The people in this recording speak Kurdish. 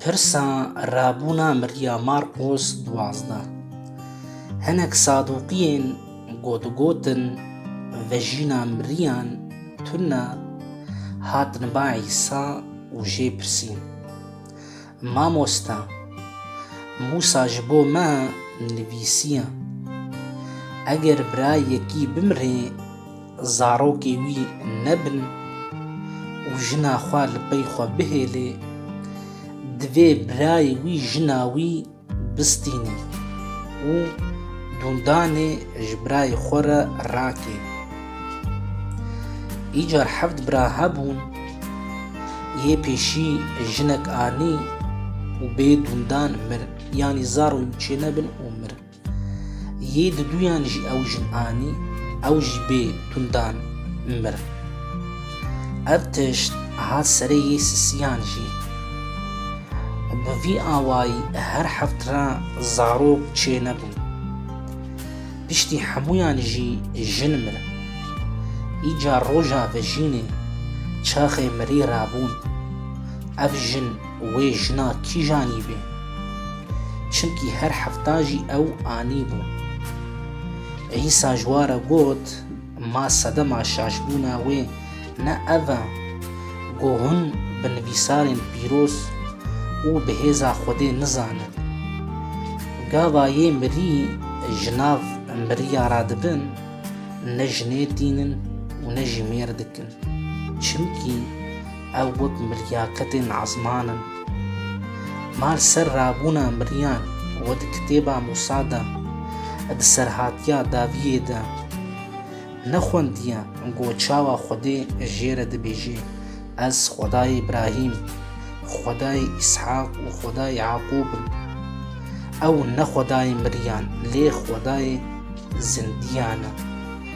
Pirsa rabûna mirya Marqos duwazdeh. Hinek saduqiyên ku digotin vejîna miriyan tune hatin ba Îsa û jê pirsîn, Mamoste, Mûsa ji bo me nivîsiye, Eger birayekî bimire, zarokê wî nebin û jina xwe li pey xwe bihêlê, divê birayê wî jina wî bistînê û dûndanê ji birayê xwe re rakê. Îcar heft bira hebûn, yê pêşî jinek anî û bê dûndan mir, yanî zarokê wî çênebin û mir. Yê di duyan jî ew jin anî, ew jî bê tundan mir. Ev tişt hat serê yê sisiyan jî. Bi vî awayî her heft re zarok çê nebûn. Piştî hemûyan jî jin mir. Îcar roja vejînê çaxê mirî rabûn. Ev jin Wê jina kîj anîbê? Çimkî her hefta jî ew anîbû. Îsa ji wa re got, Ma sedema şaşbûna wê ne ev e, ku hûn bi nivîsarên pîroz û bi hêza Xwedê nizanin. Gava yê mirî ji nav miriya re dibin, ne jinê tînin û ne jî mêr dikin. Çimkî Ew got mirya ketên esman in. Ma li ser rabûna miryan we di kitêba Musa de û di serhatiya Daviyê de nexwendiye ku çawa Xwedê jê re dibêje, Ez Xwedayê Îbrahîm, Xwedayê Îshaq û Xwedayê Yaqûb im. Ew ne Xwedayê miryan lê Xwedayê zindiyan e.